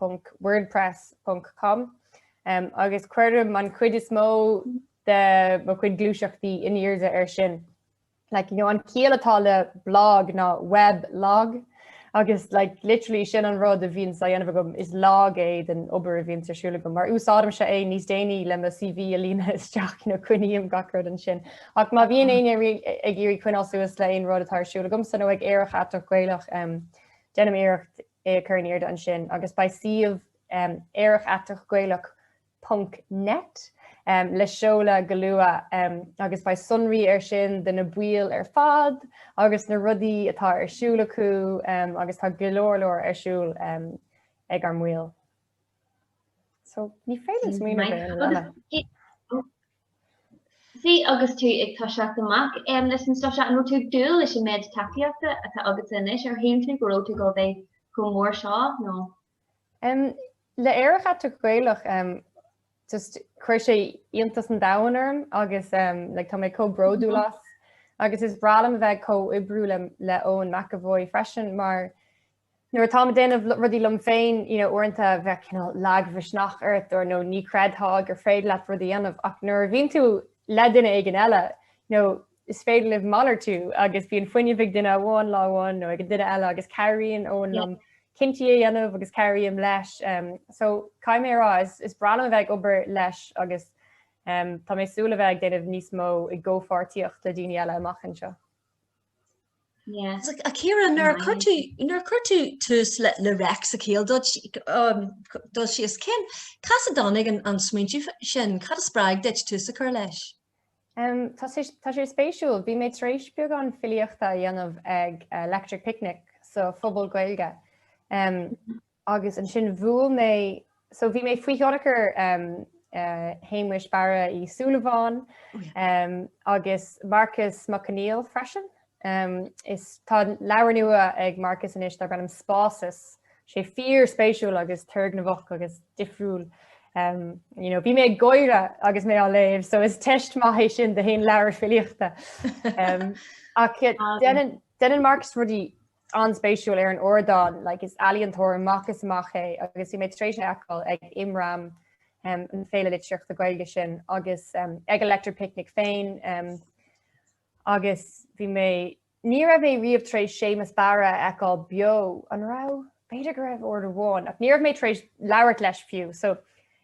ponc wordpress ponc com agus cuirim an chuid is mó de mo chuid gluaiseachtaí in airde air sin. Like, you know, an ciall atá le blog ná web log agus like, literally sin an rud a bhíonns á dhéanamh agam is log é den obair a bhíonns ar siúl agam mar úsáidimse é níos déanaí le mo CV a líonadh isteach nó coinním gach rud ansin. Ach má bhíonn éinne ag iarraidh coinneáil suas le aon rud atá ar siúl agamsa nó ag Aerach Aiteach Gaelach um, déanaim iarracht é a chur in airde ansin agus beidh suíomh aerach aiteach gaelach ponc net le seoladh go luath agus beidh sonraí air sin de na baill ar fad agus na rudaí atá ar siúl acu agus tá go leor leor ar siúl ag ár mbaill. So ní féidir smaoineamh ar aon lena. See agus tú ag toiseacht amach um, leis an stuff seo, an raibh tú ag dúil leis an méid tacaíochta atá agatsa anois, ar shíl tú go raibh tú ag dul a bheith chomh mór seo nó? Um, le Aerach Aiteach Gaelach, um, just chuir sé iontas an domhain orm agus um, like, tá mé chomh bródúil as. Agus is breá liom a bheith ag comhoibriú le, le Eoin McEvoy freisin mar Nuair atáim ag déanamh rudaí liom féin, you know, uaireanta bheadh cineál lagmhisneach ort or nó ní chreidfeá gur féidir leat rudaí a dhéanamh ach nuair a bhíonn tú le duine éigin eile, you know, is féidir libh malartú agus bíonn fuinneamh ag duine amháin lá amháin nó ag an duine eile agus cabhraíonn Eoin liom cinntí a dhéanamh agus cabhraím leis. Umm so caithfidh mé a rá is is breá liom a bheith ag obair leis agus umm tá mé súil a bheith ag déanamh níos mó i gcomhpháirtíocht le daoine eile amach anseo. A Ciara, nuair a chuir tú, nuair a chuir tú tús le, le REIC sa chéad dul um, dul síos, cén, cá as a dtáinig an, an smaointiú sin? Cad a spreag duit tús a chur leis? Um, tá sé, tá sé spéisiúil. Bhí mé tar éis beagán filíochta a dhéanamh ag uh, Electric Picnic sa, sa Phuball Gaeilge. Um, Agus ansin bhuail mé, so bhí mé faoi thionchar Shéamuis Barra Uí Shúilleabháin agus Marcus Mac Conghail freisin. Is tá leabhar nua ag Marcus anois darb ainm Spásas, sé fíorspéisiúil agus turgnamhach agus difriúil. You know, bhí mé ag gáire agus mé á léamh, so is teist maith é sin do haon leabhar filíochta. Ach déanann Marcus rudaí an-spéisiúil ar an ardán like is ealaíontóir amach is amach é agus bhí mé tar éis é a fheiceáil ag IMRAM um, an féile litríochta Gaeilge sin agus um, ag Electric Picnic féin um, agus bhí mé ní raibh mé riamh tar éis Séamus Barra a fheiceáil beo an raibh b'fhéidir go raibh uair amháin ach ní raibh mé tar éis labhairt leis fiú so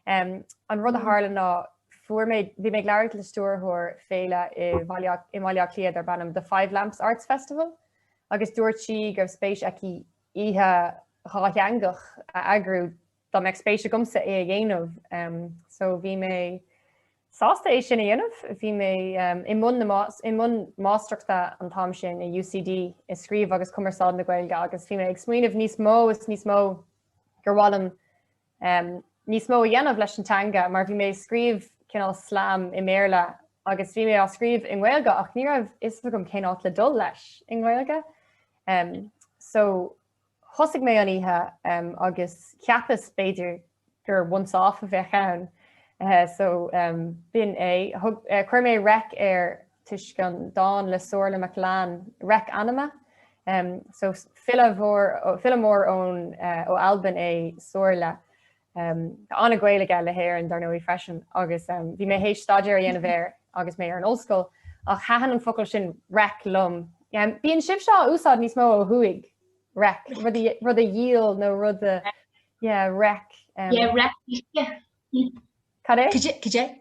um, an rud a mm. tharla ná fuair mé bhí mé ag labhairt le stiúrthóir féile i mBaile Átha Cliath darb ainm the Five Lamps Arts Festival. agus dúirt sí go raibh spéis aici oíche dhátheangach a eagrú dá mbeadh spéis agamsa é a dhéanamh. So bhí mé sásta é sin a dhéanamh. Bhí mé i mbun i mbun máistreachta an t-am sin i UCD i Scríobh agus Cumarsáid na Gaeilge agus bhí mé ag smaoineamh níos mó is níos mó gur mhaith liom em, níos mó a dhéanamh leis an teanga mar bhí mé ag scríobh cineál slam i mBéarla agus bhí mé á scríobh i nGaeilge ach ní raibh a fhios agam cén áit le dul leis i nGaeilge. Em, so thosaigh mé an oíche em, agus cheapas b'fhéidir gur once off a bheadh ann. Eh, so em, b'in é. Thug, eh, chuir mé REIC air toisc an dán le Somhairle MacLean, Reic Anama. So file mhór, file mór ón, ó Albain é Somhairle. Tá an-ghaol aige le hÉirinn, dar ndóigh, freisin, agus bhí mé tar éis staidéar a dhéanamh air agus mé ar an ollscoil, ach thaitin an focal sin reic liom. Bíonn sibhse á úsáid níos mó ó thuaidh, reic, rud a, rud a dhíol nó rud a, yeah, reic. Yeah, reic uisce. Cad é? Cad é?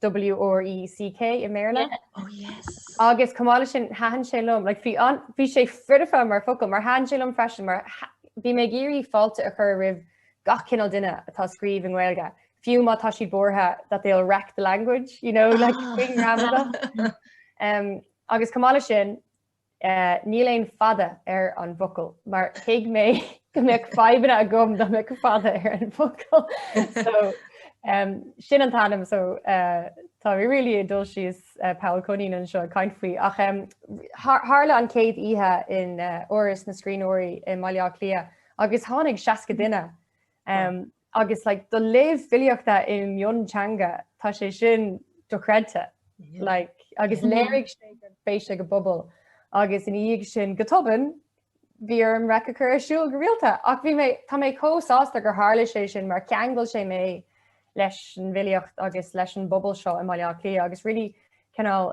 WRECK i mBéarla. Oh yes. Agus chomh maith leis sin thaithin sé liom, like, bhí an- bhí sé foirfe mar fhocal mar thaithin sé liom freisin mar tha- bhí mé ag iarraidh fáilte a chur roimh gach cineál duine atá ag scríobh i nGaeilge, fiú má tá siad buartha that they'll wreck the language, you know, like, fucking gramadach. Em, agus chomh maith leis sin, Níl aon fada ar an bhfocal mar thuig mé go mbeadh fadhbanna agam dá mbeadh fada ar an bhfocal. So sin an t-ainm so tá mé really ag dul síos poll coinín anseo ag caint faoi ach tharla an chéad oíche in Áras na Scríbhneoirí i mBaile Átha Cliath agus tháinig seasca duine Agus like do léamh filíochta i mionteanga tá sé sin dochreidte. Like agus léirigh sé gur féith sa bpobal agus ina dhiaidh sin go tobann bhí orm REIC a chur ar siúl go rialta ach bhí mé, tá mé chomh sásta gur tharla sé sin mar cheangail sé mé leis an bhfilíocht agus leis an bpobal seo i mBaile Átha Cliath agus really cineál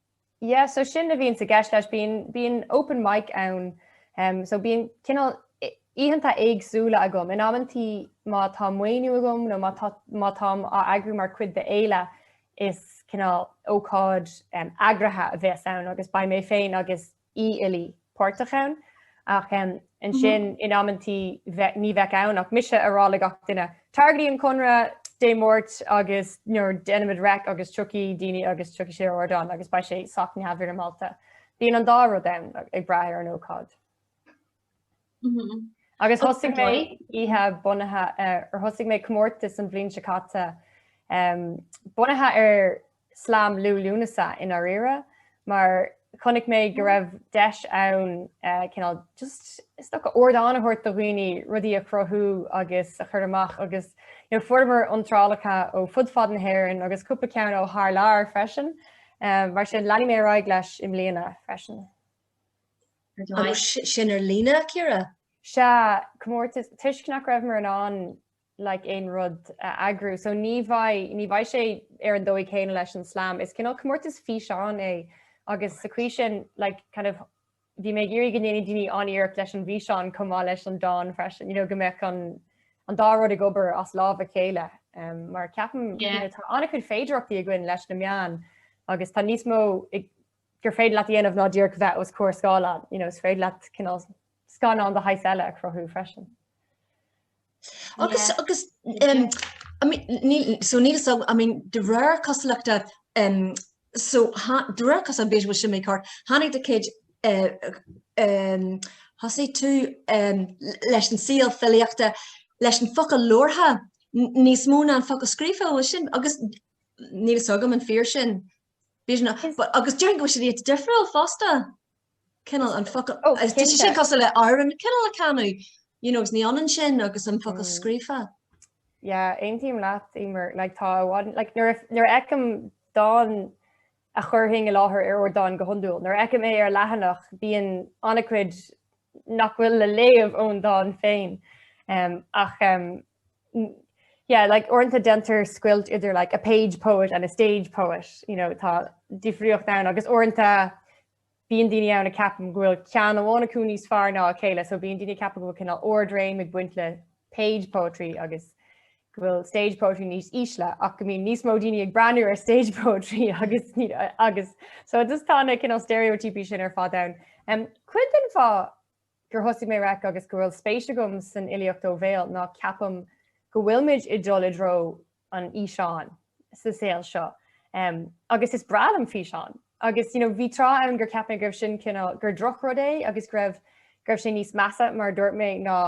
Yeah so sin a bhíonn i gceist leis bíonn bíonn open mic ann um so bíonn cineál oícheanta éagsúla agam in amanntaí má tá maoiniú agam nó má tá má táim á eagrú mar chuid de fhéile is cineál ócáid um eagraithe a bheas ann agus beidh mé féin agus í uilig páirteach ann ach ansin in amanntaí ní bheidh ann ach mise ag rá le gach duine tagaigí chuig an Conradh Dé Máirt agus déanfaimid REIC agus tiocfaidh daoine agus tiocfaidh siad ar ardán agus beidh sé sách neamhfhoirmeálta. Bíonn an dá rud ann ag brath ar an ócáid. Agus thosaigh mé oíche bunaithe ar thosaigh mé comórtas an bhliain seo caite bunaithe ar slam Liú Lúnasa i ndáiríre mar chonaic mé go raibh deis ann cineál just is dócha ardán a thabhairt do dhaoine rudaí a chruthú agus a chur amach agus fuaireamar iontrálacha ó fud fad na hÉireann agus cúpla ceann ó thar lear freisin mar sin leanfaidh mé ar aghaidh leis i mbliana freisin. Agus sin ar líne, Ciara? Sea, comórtas, toisc nach rabhamar in ann like aon rud a eagrú. So ní bheidh, ní bheidh sé ar an dóigh chéanna leis an slam. Is cineál comórtas físeán é agus sa chaoi sin like kind of bhí mé ag iarraidh go ndéanfadh daoine an-iarracht leis an bhfíseán chomh maith leis an dán freisin, you know, go mbeadh an an dá rud ag obair as lámh a chéile. Mar ceapaim, you know, tá an-chuid féidearthachtaí againn leis na meáin agus tá níos mó ag gur féidir leat a dhéanamh ná díreach bheith os comhair scáileáin. You know, is féidir leat cineál scannán de shaghas eile a chruthú freisin. Agus, agus, um, I mean, níl, so níl so, I mean, de réir cosúlachta, um, so, ha, de réir cos an bhfuil sin agam ceart, tháinig do chéad, uh, um, thosaigh tú um, leis an saol filíochta, leis an focal labhartha, níos mó ná an focal scríofa bhfuil sin, agus níl a fhios agam an fíor sin, B'fhéidir ná but agus déarfainn go bhfuil siad iad difriúil fosta. Cineál an focal Oh, is ea sin cinnte. cosúil le amhrán cineál a chanadh you know agus ní ionann sin agus an focal Mm. scríofa. Yeah, aontaím leat, Emer. Like, tá i bhfad, like, nuair a- nuair a fheicim dán a chuirfinn i láthair ar ardán go hiondúil, nuair a fheicim é ar leathanach, bíonn an-chuid nach bhfuil le léamh ón dán féin ach yeah like uaireanta déantar scoilt idir like a page poet and a stage poet you know tá difríocht ann agus uaireanta bíonn daoine ann a cheapann go bhfuil ceann amháin acu níos fearr ná a chéile so bíonn daoine ag ceapadh go bhfuil cineál ard-réim ag baint le page poetry agus go bhfuil stage poetry níos ísle ach go mbíonn níos mó daoine ag breathnú ar stage poetry agus agus so just tá na cineál steiréitíopaí sin ar fád ann. Um, cuid den fáth gur thosaigh mé REIC agus go bhfuil spéis agam san fhilíocht ó bhéal ná ceapaim go bhfuilimid ag dul i dtreo an fhíseáin sa saol seo agus is breá liom físeáin agus you know bhí tráth ann gur cheap mé go raibh sin cineál gur drochrud é agus go raibh go raibh sé níos measa mar a dúirt mé ná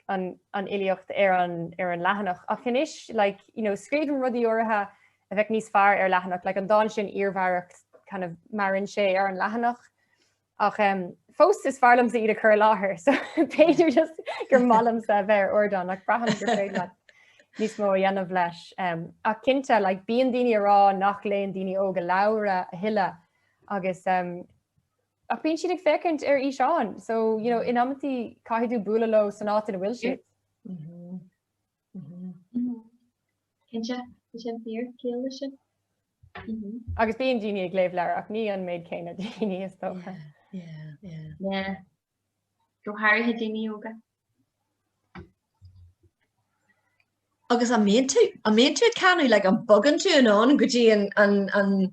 an an fhilíocht ar an ar an leathanach ach anois like you know scríobhaim rudaí áirithe a bheadh níos fearr ar leathanach like an dán sin iarmhaireacht kind of maireann sé ar an leathanach Ach fós is fearr liomsa iad a chur i láthair so b'fhéidir just gur maith liomsa a bheith ar ardán ach braithim gur féidir leat níos mó a dhéanamh leis. Ach cinnte, like, bíonn daoine ag rá nach léann daoine óga leabhra a thuilleadh agus ach bíonn siad ag féachaint ar fhíseáin so, you know, in amannaí caithfidh tú bualadh leo san áit ina bhfuil siad. Cinnte, tá sé fíor, ciall leis sin. Agus bíonn daoine ag léamh leabhair ach ní an méid céanna daoine is dócha. Go háirithe daoine óga. Agus an mbíonn tú, an mbíonn tú ag canadh, like an bogann tú anonn go dtí an, an, an,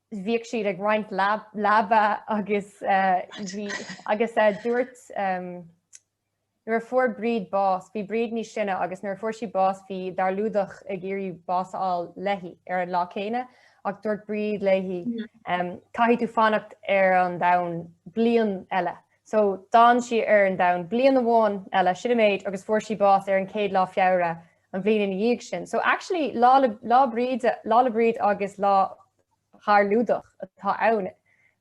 bhíodh siad ag roinnt leaba agus bhí agus dúirt nuair a fuair Bríd bás, bhí Bríd níos sine agus nuair a fuair sí bás bhí Darlúdach ag iarraidh bás a fháil léi ar an lá céanna ach dúirt Bríd léi caithfidh tú fanacht ar an domhan bliain eile. So d'fhan sí ar an domhan bliain amháin eile, sin an méid, agus fuair sí bás ar an 1ú lá Feabhra an bhliain ina dhiaidh sin. So actually Lá le Lá Bríd Lá le Bríd agus Lá Dharlúdach atá ann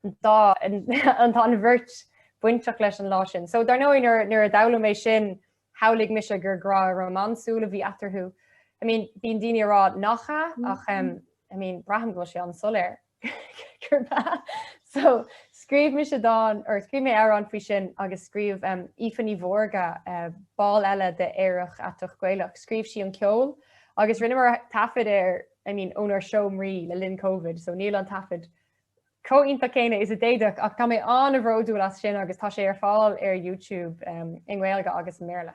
an dá an tá an bheirt bainteach leis an lá sin. So dar ndóigh nuair nuair a d'fhoghlaim mé sin shamhlaigh mise gur grá rómánsúil a bhí eatarthu. I mean bíonn daoine ag rá nach ea ach umm I mean braithim go bhfuil sé an-soiléir. So, scríobh mise dán, or scríobh mé amhrán faoi sin agus scríobh Aoife Ní Mhórdha, ball eile de Aerach Aiteach Gaelach, scríobh sí an ceol agus rinneamar taifead air, I mean, ónár seomraí le linn Covid, so níl an taifead chomh iontach céanna is a d'fhéadfadh ach tá mé an-bhródúil as sin agus tá sé ar fáil ar YouTube i nGaeilge agus i mBéarla.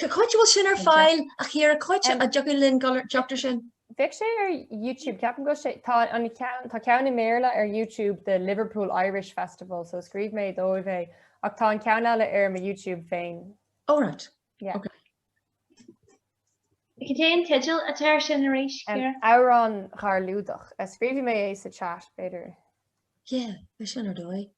Cá háit a bhfuil sin ar fáil a Chiara, cá háit a dtiocfadh linn teacht ar sin. Bheadh sé ar YouTube ceapaim go bhfuil sé tá an ceann tá ceann i mBéarla ar YouTube de Liverpool Irish Festival so scríobh mé dóibh é ach tá an ceann eile ar mo YouTube féin. Oh right. Yeah. Okay. Cad é an teideal atá ar sin arís? Amhrán Dharlúdach. Scríobhfaidh mé é sa chat b'fhéidir. Yeah, bheadh sin ar dóigh.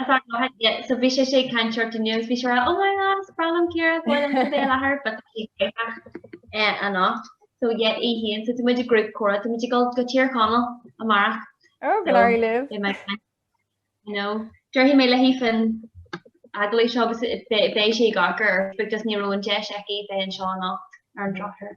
Tá fear maith aige so bhí sé sé ag caint ort inniu is bhí sé rá 'Oh my god is breá liom Ciara is maith liom tú Béal Athair' but tá sí gaelach anocht so yeah í fhéin so tá muid i ngrúpa comhrá tá muid ag dul go Tír Chonaill amárach. Oh go leor leo. Beidh mé ag caint you know déarfaidh mé léi faoin agallamh seo agus beidh sé á chur ar Facebook just ní raibh an deis aici bheith anseo anocht ar an drochuair.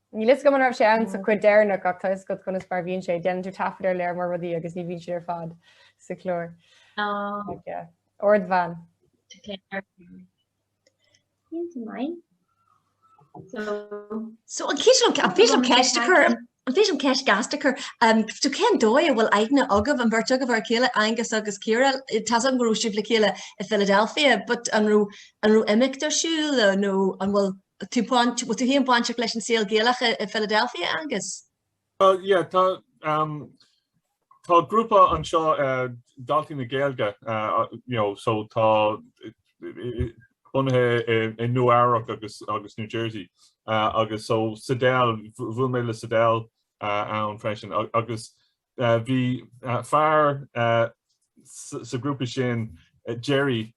Níl fhios agam an raibh sé ann sa cut deireanach ach tá fhios agat conas mar bhíonn sé, déanann tú taifead ar lear mór rudaí agus ní bhíonn siad ar fad sa chlár. Ard bhean. So an féidir liom ceist a chur an féidir liom ceist ghasta a chur tú cén dóigh a bhfuil aithne agaibh an bheirt agaibh ar a chéile, Angus, agus Ciara tá fhios agam go raibh sibh le chéile i Philadelphia, but an raibh an raibh imeacht ar siúl nó an bhfuil Tú baint, bhfuil tú féin bainteach leis an saol Gaelach i Philadelphia, Angus? Bhuel, yeah, tá, um, tá grúpa anseo uh, Daltaí na Gaeilge, uh, you know, so tá bunaithe i Nua-Eabhrac agus, agus New Jersey, uh, agus so Sadell, bhuail mé le Sadell uh, ann freisin, agus Bhí fear sa grúpa sin, Jerry,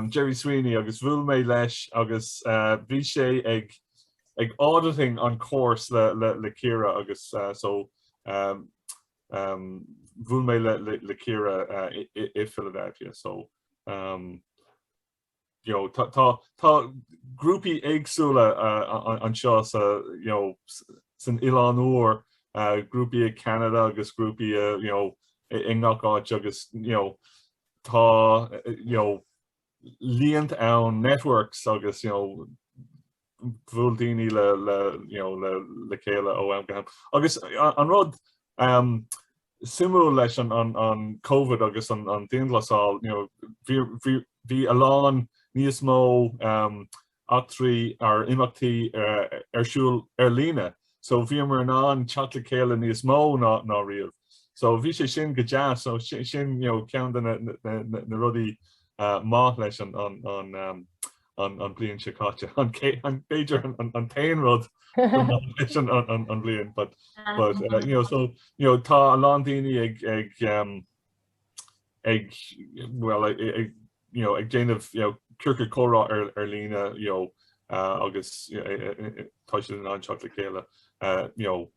Jerry Sweeney agus bhuail mé leis agus bhí sé ag ag auditing an course le le le Ciara agus uh, so um, um, bhuail mé le le, le Ciara uh, i, i, i Philadelphia so um, you know, tá, tá, tá grúpaí éagsúla anseo sa, you know, san Oileán Úr, grúpaí i gCeanada agus grúpaí i, you know, i ngach áit agus, you know, tá, you know, líonta ann, networks agus, you know, bhuail daoine le le you know le le chéile ó am go ham. Agus an rud ehm suimiúil leis an an an Covid agus an an dianghlasáil you know bhí bhí bhí a lán níos mó ehm eachtraí or imeachtaí eh ar siúl ar líne. So bhíomar in ann teacht le chéile níos mó ná ná riamh. So bhí sé sin go deas so sin you know ceann de na na na na rudaí eh maith leis an an an ehm an bliain seo caite. B'fhéidir an t-aon rud maith leis an bhliain but you know so you know tá a lán daoine ag ag ag well ag you know ag déanamh you know ciorcal comhrá ar líne you know agus tá siad in ann teacht le chéile you know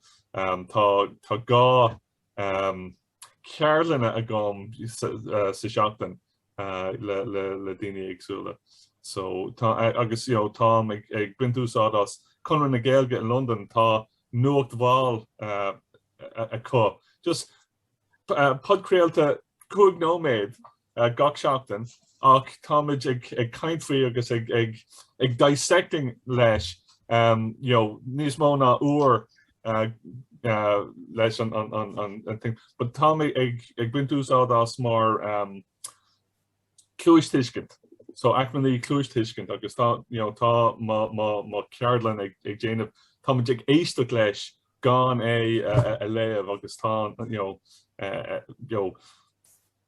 tá gá ceardlanna agam sa seachtain le daoine éagsúla so tá agus you know táim ag baint úsáid as Conradh na Gaeilge i Londain tá Nuacht Mhall acu just podchraolta cúig nóiméad gach seachtain ach táimid ag caint faoi agus ag dissecting leis you know níos mó ná uair leis an an thing but táimid ag baint úsáid as mar cluastuiscint so acmhainní cluastuiscint agus tá you know tá mo cheardlann ag déanamh táimid ag éisteacht leis gan é a léamh agus tá you know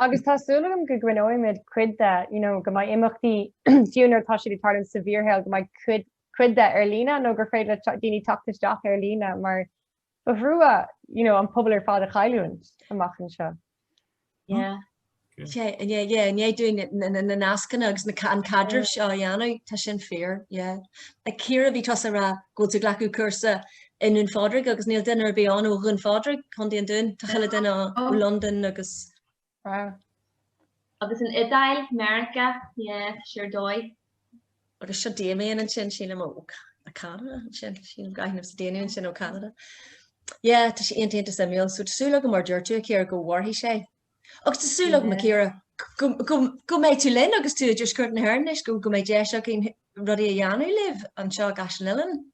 Agus tá súil agam go gcoinneoimid cuid de, you know, go mbeidh imeachtaí fiú nuair atá siad ag tarlú sa bhfíorshaol go mbeidh cuid cuid de ar líne nó gur féidir le daoine teacht isteach ar líne mar ba thrua, you know, an pobal ar fad a chailliúint amach anseo. Yeah. Okay. Yeah. Yeah, yeah, yeah, dúinn na nascanna agus na an caidreamh seo a dhéanamh tá sin fíor, yeah. A Chiara bhí tusa ag rá go bhfuil tú ag glacadh cúrsa i nDún Phádraig agus níl duine ar bith ann ó Dhún Phádraig, Co. an Dúin, tá chuile duine ann ó Londain agus. Wow. Agus an Iodáil, Meiriceá, yeah, sure dóigh. Agus seo Damien ansin, sílim ó Canada ansin, sílim go aithnimse Damien ansin ó Canada. Yeah, tá sé iontach iontach suimiúil, so tá súil agam mar a dúirt tú a Chiara go mhairfidh sé. Agus tá súil agam a Chiara go go go mbeidh tú linn agus tú i dtuaisceart na hÉireann anois go go mbeidh deis againn rudaí a dhéanamh libh anseo i gCaiseal Uilleann.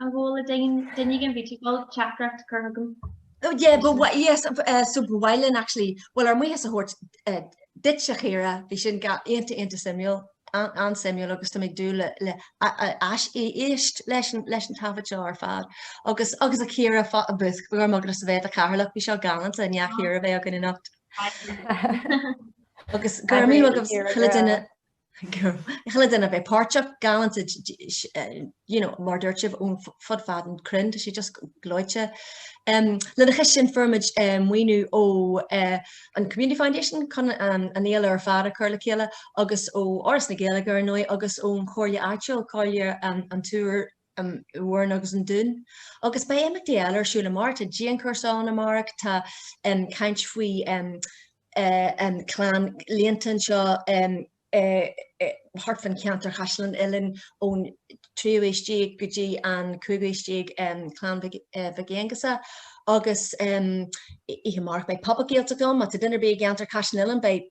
An bhfuil le duine ag an Bhíteagal teachtaireacht cur chugam? Yeah, but why, yes, uh, so but why then actually, well, ár mbuíochas a thabhairt uh, duit a Chiara, bhí sin go hiontach iontach suimiúil, an, an suimiúil agus tá mé ag dúil le, le a, a, ais, éisteacht leis, an, leis an taifead seo ar fad. Agus, agus a Chiara abhus, go raibh maith agatsa bheith i do chathaoirleach, bhí seo galanta, an dá Chiara a bheith againn anocht. agus go raibh míle maith ag chuile duine. Chuile duine a bheith páirteach, galánta, you know, mar dúirt sibh, ón fud fad an cruinn, tá sé just gleoite. Um, lena chois sin fuair muid um, maoiniú ó uh, an Community Foundation chun um, an fhéile ar fad a chur le chéile agus ó Fhoras na Gaeilge ar ndóigh agus ón Chomhairle Áitiúil Comhairle um, an tIúr an Mhúrn agus an Dún. Agus beidh imeachtaí eile ar siúl amárach, tá dianchúrsa ann amárach, tá caint faoi Chlann Líonta anseo thart fán cheantar Chaisleán Uidhilín ón tríú aois déag go dtí an cúigiú aois déag, Clann Mhic Aonghusa. Agus oíche amárach beidh Pop-Up Gaeltacht ann, má tá duine ar bith i gceantar Chaisleán Uidhilín beidh.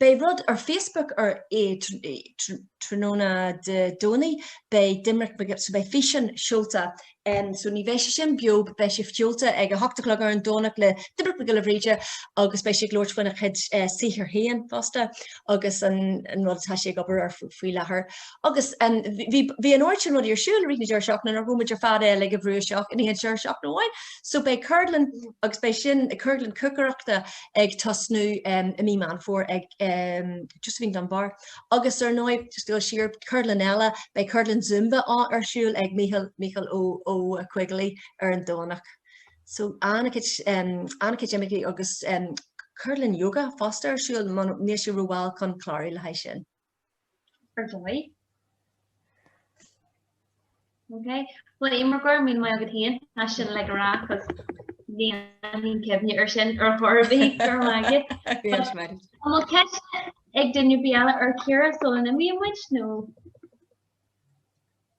Beidh rud ar Facebook ar tráthnóna Dé Domhnaigh, beidh Doimnic, so beidh físeán seolta, so ní bheidh sé sin beo but beidh sé seolta ag a hocht a chlog ar an Domhnach le Doimnic Mac Giolla Bhríde agus beidh sé ag labhairt faoina chuid saothar féin fosta agus an rud atá sé ag obair ar faoi láthair. Agus bhí an oiread sin rudaí ar siúl i rith na deireadh seachtaine nár thóg muid ar fad é uilig a bhrú isteach in aon deireadh seachtaine amháin so beidh ceardlann agus beidh sin, ceardlann cócaireachta, ag tosnú i mí Meán Fómhair ag Josephine Dunbar agus ar ndóigh just gabháil siar ceardlann eile, beidh ceardlann Zumba ar siúl ag Mícheál Ó Coigligh ar an Domhnach. So an-chuid imeachtaí agus ceardlann yoga fosta ar siúl, níl sé rómhall chun clárú le haghaidh sin. ar dóigh. Ok bhuel Éimear go raibh míle maith agat féin tá sin le rá agus níl aon cuimhne ar sin ar chor ar bith go raibh maith agat. An bhfuil ceist ag duine ar bith eile ar Ciara sula n-imíonn muid nó?